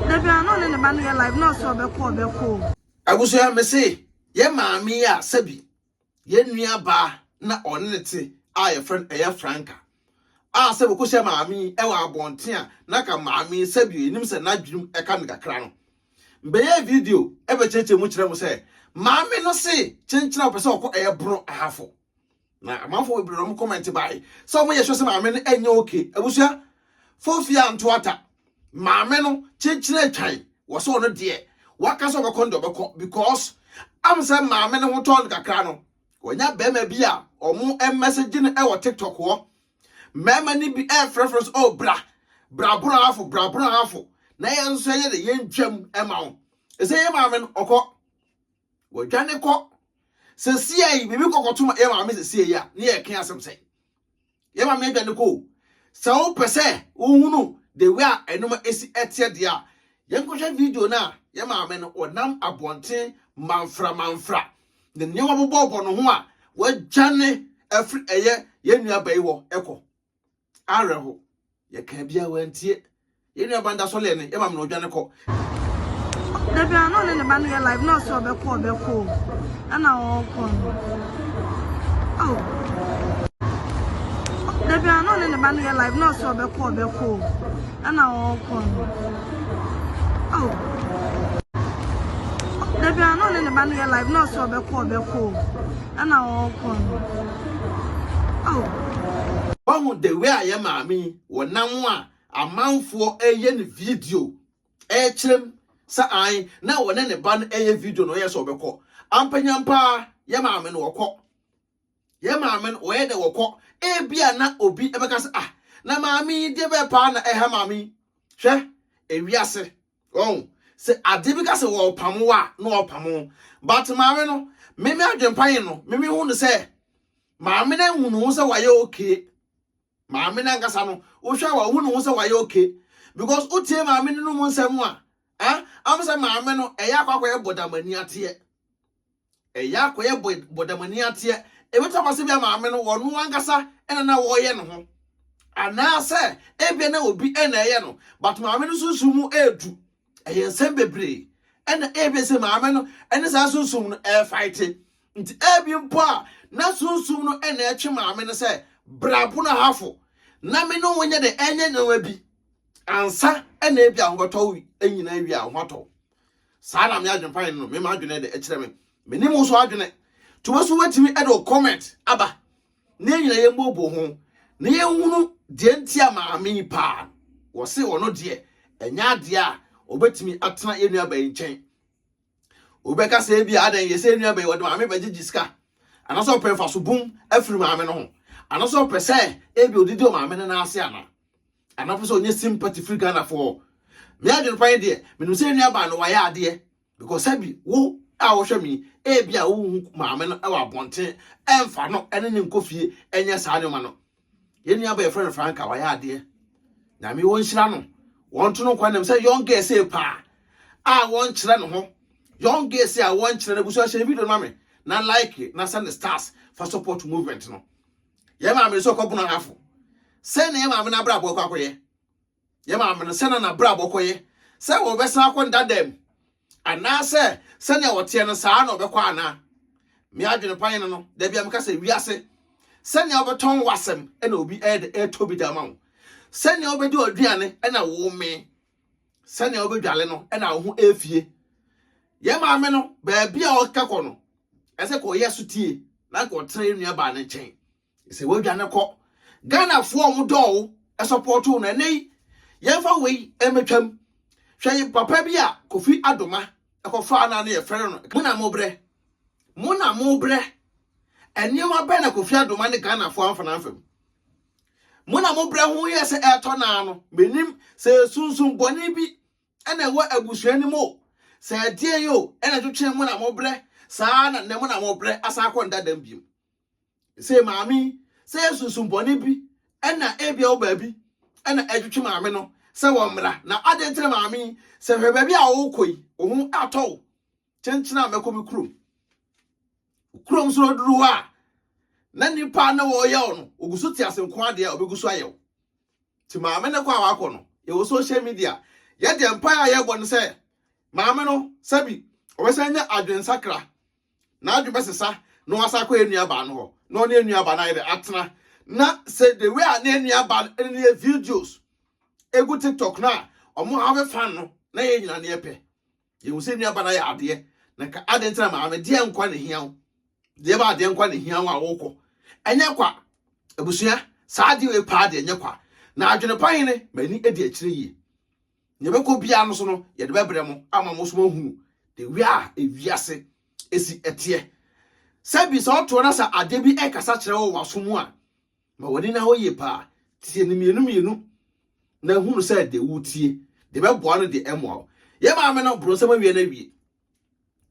Dabi a na ɔne ne ba no yɛ live na ɔsɛ ɔbɛkɔ ɔbɛkɔ o. Abusua mese yɛ maame yi a sɛbi yɛ nua baa na ɔne ne te a yɛfrɛ no ɛyɛ Franka a sɛ wɔkɔhyɛ maame yi ɛwɔ abɔnten a na ka maame yi sɛbi yɛnim sɛ n'adwenem ɛka no kakra no mbɛyɛ video ɛbɛkyerɛkyerɛ mu kyerɛ mo sɛ maame no se kyenkyena ɔpɛ sɛ ɔkɔ ɛyɛ bono ahafo na amanfoɔ bebree na wɔn comment bae sɛ wɔn yɛ sure sɛ maame no ɛnyɛ okay abusua fofie anto ata maame no kyekyere atwan wɔ sɛ ɔno deɛ waka sɛ ɔbɛkɔ no deɛ ɔbɛkɔ because am sɛ maame no ho tɔn no kakra no wɔnya bɛrima bi a wɔn message no ɛwɔ tiktok hɔ mmarima no bi ɛrefrɛfrɛ sɛ oh bra bra boro afo bra boro afo na yɛn nso yɛyɛ de yɛn twam ɛma wo ɛsɛ yɛ maame no ɔkɔ wɔadwane kɔ sɛsia yi biribi kɔkɔto yɛ maame sɛsia yi a ne yɛ ɛka asɛm sɛ yɛ maame adwane kɔ sɛ wopɛ sɛ wohunu the way a ɛnoma esi ɛteɛ deɛ a yɛnkɔhwɛ video no a yɛ maame no ɔnam abɔnten manfra manfra ne nneɛma bobɔbɔ no ho a wɔadwane afiri ɛyɛ yɛn nua bɛyi hɔ ɛkɔ awerɛho yɛka bia wantie yɛn nua banda sɔ lɛ no yɛma mena ɔdwane kɔ dabi a na ɔne ne ba no yɛ live na ɔsɛ ɔbɛkɔ ɔbɛkɔ o ɛna ɔkɔ no oh. dabi a na ɔne ne ba no yɛ live na ɔsɛ ɔbɛkɔ ɔbɛkɔ o ɛna ɔkɔ no oh. dabi a na ɔne ne ba no yɛ live na ɔsɛ ɔbɛkɔ ɔbɛkɔ o ɛna ɔkɔ no Wahu the way a yɛ maame yi wɔ nam a amanfoɔ ɛyɛ ne video ɛkyerɛm sɛ an na wɔne ne ba no ɛyɛ video no ɔyɛ sɛ ɔbɛkɔ ampanyampa yɛ maame no ɔkɔ yɛ maame no ɔyɛ dɛ wɔkɔ ebia na obi ɛbɛka sɛ ah na maame yi deɛ bɛɛ paa na ɛha maame yi hwɛ ewiase Wahu? Sɛ ade bi ka sɛ wɔrepamo a, na wɔrepamo. But maame no, me me adwempa yi no, me mehu no sɛ maame no ahu ne ho sɛ wayɛ okay. Maame no ankasa no, wohwɛ a wahu ne ho sɛ wayɛ okay. Because wotie maame no no mu nsɛm a, eh, am sɛ maame no ɛyɛ akɔ akɔyɛ bɔdamani ateɛ. Ɛyɛ akɔyɛ bɔdamani ateɛ. Ɛbɛtumi aba sɛ bia maame no ɔno ankasa na na ɔyɛ ne ho anaasɛ ebia na obi na ɛyɛ no but maame no sunsum mu ɛredu ɛyɛ nsɛm bebree ɛna ebia sɛ maame no ɛne saa sunsum no ɛrefaete nti ebi mpo a na sunsum no ɛna ɛtwe maame no sɛ brabo na hafo na me no wonyɛ de ɛnyɛ nneɛma bi ansa ɛna ebia ho bɛtɔ nyinaa wie a ho atɔ saa na me adwempa no me ma adwene de ɛkyerɛ me me ne mo so adwene to bɛ so wetumi ɛde o comment aba ne nyina yɛn bobo ho na yɛn hunu deɛ nti a maame yi paa wɔse ɔno deɛ ɛnyɛ adeɛ a ɔbɛtumi atena yɛn nua bɛn nkyɛn wobɛka sɛ bi adan yɛ sɛ nua bɛn wɔde maame bɛgyegye sika anaasɛ ɔpɛ mfaso bum afiri maame no ho anaasɛ ɔpɛ sɛ ebi odidi ɔmaame no n'ase ana ana wopɛ sɛ ɔnyɛ sympathy firi ghanafoɔ me adwene pa yi deɛ menim sɛ nua baa no wayɛ adeɛ because sɛbi wo a wohwɛ me ebi a wohu maame no wɔ abɔnten ɛmfa no ɛne ne nkɔ fie ɛnyɛ saa nneɛma no yɛn nua baa yɛfrɛ no franka wayɛ adeɛ nyame wɔnhyira no wɔnto no nkwa nam sɛ young girl sei paa a wɔnkyerɛ ne ho young girl sei a wɔnkyerɛ no abusua hyɛ video no ma me na like na send stars fa support movement no Yɛn maame no sɛ ɔkɔbunu ahafo. Sɛ na yɛn maame no abrabɔ kɔ akɔyɛ. Yɛn maame no sɛ na n'abrabɔ kɔyɛ. Sɛ wɔbɛsan akɔ ndada mu. Anaasɛ sɛnea wɔteɛ no saa na ɔbɛkɔ ana. Me adwene pa yɛn no, da bi a meka sɛ wiase. Sɛnea wobɛtɔn w'asɛm na obi ɛtɔ bi da ma wo. Sɛnea wobɛdi ɔduane na womee. sɛnea wobɛdwale no na wo ho afie. Yɛ maame no, baabi a ɔka kɔ no, ɛsɛ kɔyɛ so tie na kɔtena yɛ nuabaa no nkyɛn. Sɛ woadwane kɔ, Ghanafoɔ a wɔdɔɔ wo sɔpɔɔto no ɛnɛ yi, yɛmfa wei mmɛtwam. Hwɛ yi papa bi a Kofi Adoma ɛkɔfaa no a na yɛfrɛ no mo na mobrɛ. Mo na mobrɛ. Nneɛma bɛn na Kofi Adoma ne Ghanafoɔ amfa no amfam? Mo na mo brɛ ho yɛ sɛ ɛretɔ naa no, menim sɛ sunsum bɔne bi na ɛwɔ abusua no mu o, sɛ ɛdeɛn o, ɛna ɛtwetwee mo na mo brɛ, saa ara na nnɛ mo na mo brɛ asan akɔ nda dam biom. Sei maame yi, sɛ ɛyɛ sunsum bɔne bi na ebia wɔ baabi na ɛtwetwe maame no sɛ wɔmmra, na adɛn nti na maame yi, sɛ hwɛ baabi a wokɔ yi, wo ho atɔ wo, kyenkyena mɛkɔ me kurom. Kurom so no odu hɔ a, na nipa na wɔyɛ ɔno. Ogu so te ase nko ade a obegu so ayɛ wo. Ti maame ne kɔ a wakɔ no, yɛwɔ social media. Yɛ deɛ mpae a yɛbɔ no sɛ maame no sɛbi ɔbɛsan nya adwene sakra. N'adwene bɛsesa na wasan akɔ yɛn nua baa no hɔ. Na ɔne yɛn nua baa no ayɛ dɛ atena. Na sɛ the way a ne yɛn nua baa no ne yɛ videos egu TikTok no a, wɔn have fun no na yɛn nyinaa ne yɛpɛ. Yɛhu sɛ nnuaba no ayɛ adeɛ, na nka adɛn nti na maame deɛ nkwa na hia wo? Deɛ ba adeɛ nkwa na hia wo a wokɔ. Ɛnyɛ kwa. Abusua, saa adeɛ wei paa deɛ ɛnyɛ kwa. Na adwene pa hene, m'ani adi akyire yie. Nea ɛbɛkɔ biara no so no, yɛde bɛbrɛ mo ama mo so moahunu the way a ewiase esi ɛteɛ. Sɛbi sɛ ɔtoɔ na sɛ adeɛ bi ɛkasa kyerɛ wo wɔ w'aso mu a, Ma w'ani na hɔ yie paa. Tie no mmienu mmienu na hunu sɛ deɛ wotie deɛ bɛboa no deɛ ɛmmoa wo. Yɛ maame no boro nsɛm awie no awie.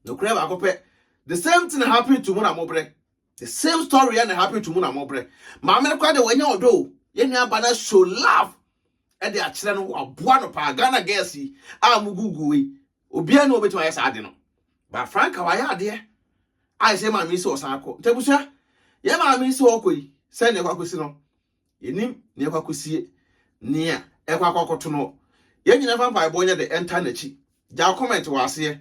Nokorɛ baako pɛ. The same thing happen to mu na mobrɛ. The same story yɛ na happen to mu na mobrɛ. Maame no koraa deɛ wanya ɔdɔ o. Yɛ nua aba no show love ɛde akyerɛ no waboa no paa. Ghana girls yi a mo Google yi obiara na obetumi ayɛ saa ade no ba franka wayɛ adeɛ a ɛsɛ maame yi sɛ ɔsan akɔ nti abusua yɛ maame yi sɛ ɔkɔ yi sɛ nea ɛkɔ akɔsi no yɛnim nea ɛkɔ akɔsie nea ɛkɔ akɔ akɔto no yɛn nyina fa mpaebɔ nyɛ de ɛnta n'akyi gyaw comment wɔ aseɛ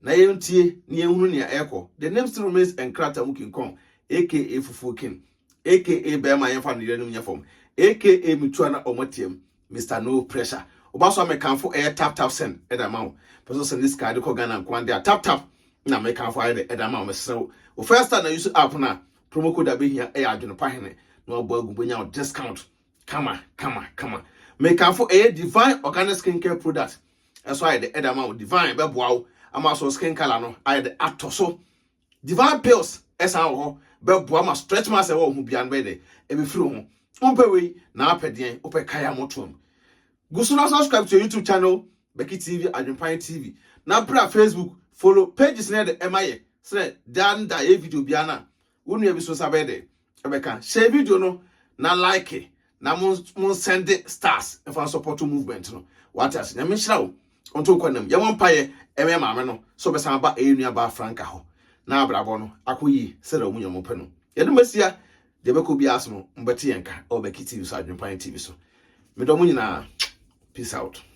na yɛntie na yɛnhunu nea ɛkɔ the name still remains nkrata mu kinkɔn aka fufuo kin aka bɛrima yɛmfa no yɛnom nyɛ fam aka metua na ɔmatiam Mister no pressure. Oba so a me kanfo ɛyɛ tap tap send ɛde ama wo. Pɛsɛ send this card kɔ Ghana nkoa de a tap tap na me kanfo ayɛ de ɛde ama wo mesrɛ wo. Wo first time na use app no a promo code a behia ɛyɛ adwene pa hene na wabɔ agu bonya wo discount kama kama kama. Me kanfo ɛyɛ Divine Organic Skin Care Product ɛso ayɛ de ɛde ama wo. Divine bɛboa wo ama so skin color no ayɛ de atɔ so. Divine pills ɛsan wɔ hɔ bɛboa ma stretch marks ɛwɔ wo ho bia no bɛyɛ dɛ ɛbɛfiri wo ho. Wompɛ wei na apɛ deɛn? Wopɛ kae a motoam. Gu so na subscribe to your YouTube channel Becky TV Adwempan TV na bra Facebook follow pages no yɛ dɛ ɛma yɛ sɛdɛ daa no da yɛyɛ video biara no a wo nua bi so nsa bɛyɛ dɛ ɛbɛka share video no na like na mo mo send stars ɛfa support movement no wate ase nyame nhyira wo ɔnto kɔ nam yɛmɔ mpaeɛ ɛmɛ maame no sɛ ɔbɛsan aba ɛyɛ nua baa franka hɔ na abrabɔ no akɔ yie sɛdeɛ ɔmo nyame pɛ no yɛde masia deɛ bɛkɔ bi aso no mbɛte yɛn ka ɛwɔ bɛki tv so adwempan tv so medɔ mo nyinaa peace out